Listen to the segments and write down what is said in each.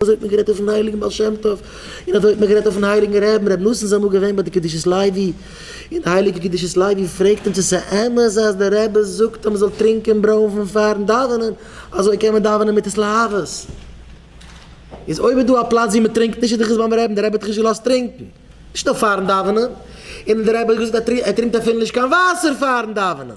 אזוי האט מען גערעדט אויפן הייליגן בעל שם טוב, און אזוי האט מען גערעדט אויפן הייליגן רעבן ר' נתן זיי אמאל געווען ביי די קדושת לוי, און די הייליגע קדושת לוי פרעגט אים צו ס'איז אמת אז די רבי זאגט אז מ'זאל טרינקען ברוינפן פארן דאווענען, אזוי קען מען דאווענען מיט התלהבות, איז אויב איז דא א פלאץ ווי מ'טרינקט נישט איז דאך עס ביים רעבן, די רבי האט דאך נישט געלאזט טרינקען, נישט נאר פארן דאווענען, און די רבי האט געזאגט אז ער טרינקט אפילו נישט קיין וואסער פארן דאווענען.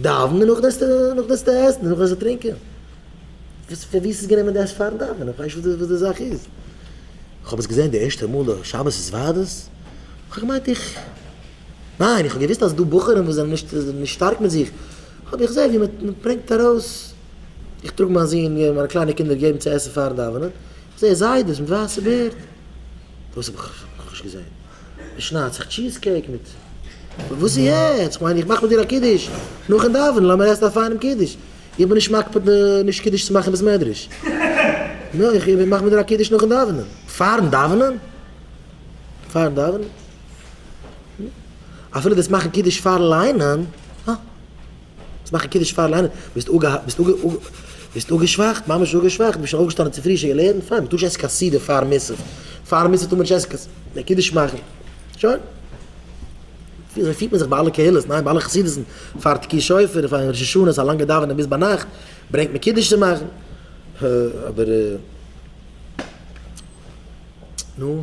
דאווענען און נאכדעם זאלסטו עסן און נאכדעם זאלסטו טרינקען? פון וואו עס גענומען דאס פארן דאווענען? איך ווייס נישט וואס די זאך איז. איך האב עס געזען די ערשטע מאל א שבת איז וואדעס, איך האב געמיינט איך, ניין איך האב געוואוסט אז ס'איז דא בחורים וואס זענען נישט שטארק מיט זיך, אבער איך זעה ווי מען ברענגט ארויס, איך טראג מיין זון און מיינע קליינע קינדער געבן צו עסן פארן דאווענען, איך זעה זיידעס מיט ווייסע בערד, דאס האב איך נאכנישט געזען. מען שניידט זיך טשיז קעיק מיט. וואס איז יעצט? כ'מיין איך מאך מיט דיר א קידוש נאכן דאווענען, לאמיר עסן א פיינעם קידוש, איך בין נישט מקפיד נישט קידוש צו מאכן אין בית מדרש, נו, איך מאך מיט דיר א קידוש נאכן דאווענען. פארן דאווענען? פארן דאווענען? נו, אפילו דאס מאכן קידוש פארן ליינען, אה. צו מאכן קידוש פארן ליינען, ביסט אפגעהאקט, ביסט אפגע אפ ביסט אפגעשוואכט, ממש אפגעשוואכט, ביסט שוין אויפגעשטאנען צו פרישע געלערנט, פיין, מען טאר נישט עסן קיין סעודה פאר מוסף, פאר מוסף טאר מען נישט עסן קיין ס די קידוש מאכן, שוין. אזוי פירט מען זיך ביי אלע קהלות, ניין? ביי אלע חסידות'ן, פאר תקיעת שופר און פאר ראש השנה איז א לאנגע דאווענען ביז ביינאכט, ברענגט מען קידוש צו מאכן, ה אבער ר נו.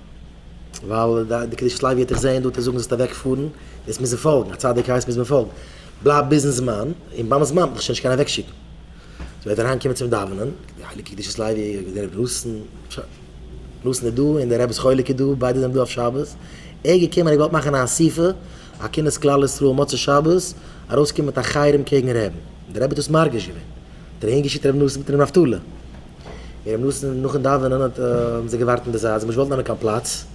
ווייל די קדושת לוי האט דיך זעהן דא טאר זאגן זאלסט אוועק פארן, דאס מוז מען פאלגן, א צדיק הייסט מוז מען פאלגן, בלייב ביזן זמן, און ביים זמן וועט דיך שוין נישט קיינער אוועק שיקן, זי וועט אריין קומען צום דאווענען, די הייליגע קדושת לוי און די רבי נתן, טשא, נתן איז דא און די רב'ס חלק איז דא, ביידע זענען דא אויף שבת, ער איז געקומען ער האט געוואלט מאכן א אסיפה, א כינוס כלל ישראל מוצאי שבת, ארויס קומען מיט א חרם קעגן רעבן, די רבי האט דאס מרגיש געווען, האט ער אהין געשיקט רבי נתן מיט רבי נפתלי. מיר האבן נאס נאך אין דאווענען האט האבן זיי געווארט אין די זייט זיי האבן נישט געוואלט נעמען קיין פלאץ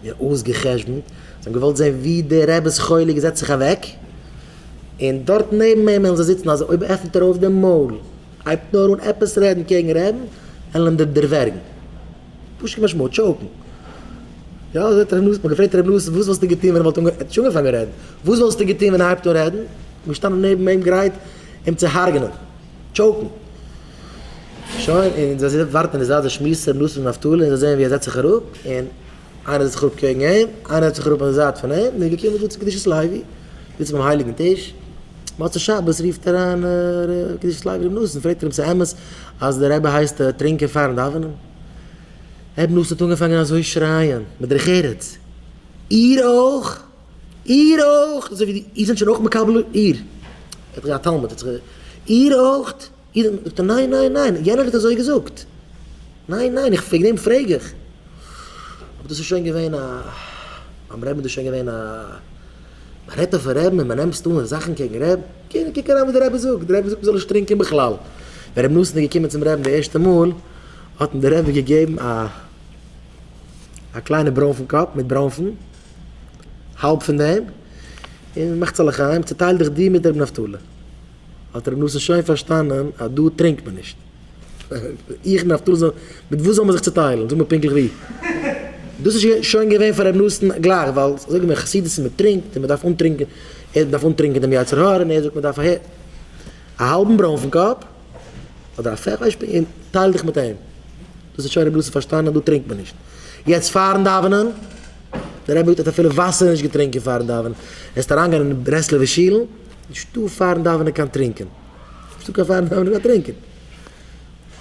מיר האבן אויסגע'חשבונ'ט זיי האבן געוואלט זען ווי די רב'ס חולה געזעצט זיך אוועק און דארט נעבן אים וועלן זיי זיצן אז אויב עפנט ער אויף די מויל הייבט נאר אן עפעס רעדן קעגן רעבן וועלן אים דערווערגן פשוט כמשמעו טשאוקן יא אזוי האט ר' נאס מיר געפרעגט ר' נאס וואס וואלסטו געטון ווען ער וואלט אנגע ער האט נישט אנגעפאנגען רעדן וואס וואלסטו געטון ווען ער הייבט אן רעדן געשטאנען נעבן אים גרייט אים צו הרג'נען. טשאוקן. שוין, און זיי זיצן ווארטן און עס רייסט די שמועס צו ר' נתן נפתלי און זיי זעען ווי ער זעצט זיך אראפ און איינער זעצט זיך אראפ קעגן אים, איינער זעצט זיך אראפ אויף די זייט פון אים, מ'איז געקומען דא צו קדושת לוי, זיצן ביים הייליגן טיש, מוצאי שבת רופט אריין ר' קדושת לוי ר' נתן, פרעגט ער אים ס'אמת אז דער רבי הייסט טרינקען פארן דאווענען? ר' נתן האט אנגעפאנגען אזוי שרייען מיט דרך ארץ, איר אויך? איר אויך, אזוי ווי איר זענט שוין אויך מקבל איר. ער האט א תלמיד, ער האט זיך גע. איר אויך? איר זענט. זאגט ער, ניין, ניין, ניין, יענער האט אזוי געזאגט. ניין, ניין, איך וועגן דעם פרעג איך. אבער דאס איז שוין געווען א. ביים רעבן איז דאס שוין געווען א. מען רעדט אויפן רעבן און מען נעמסט אן זאכן קעגן רעב. קען, קוק אריין וואס די רבי זאגט, די רבי זאגט מען זאל נישט טרינקען בכלל. ווען רבי נתן איז געקומען צום רעבן די ערשטע מאל, האט אים די רבי געגעבן א. א קליינע ברוינפן קאפ מיט ברוינפן. האלב פון דעם, און מאך צו לחיים, צוטייל דיך דו מיט רבי נפתלי. האט רבי נתן שוין פארשטאנען אז דא טרינקט מען נישט. איך און נפתלי זאל, מיט וואס זאל מען זיך צוטיילן? זאג מיר פונקטליך ווי. דאס איז שוין געווען פאר רבי נתן גלייך, ווייל זאג מיר, חסידות איז מען טרינקט און מען דארף אנטרינקען, ער דארף אנטרינקען דעם יצר הרע, און ער זאגט מען דארף אהער א האלבן ברוינפן קאפ, אדער א פער פלייש פינגער, און טייל דיך מיט אים. דאס האט שוין רבי לוזי פארשטאנען אז דא טרינקט מען נישט יעצט פארן דאווענען, דער רבי האט אפילו וואסער נישט געטרינקען פארן דאווענען, וועסט אריינגיין אין די ברסלב'ע שילן, נישטא פארן דאווענען קיין טרינקען, נישטא קיין פארן דאווענען קיין טרינקען.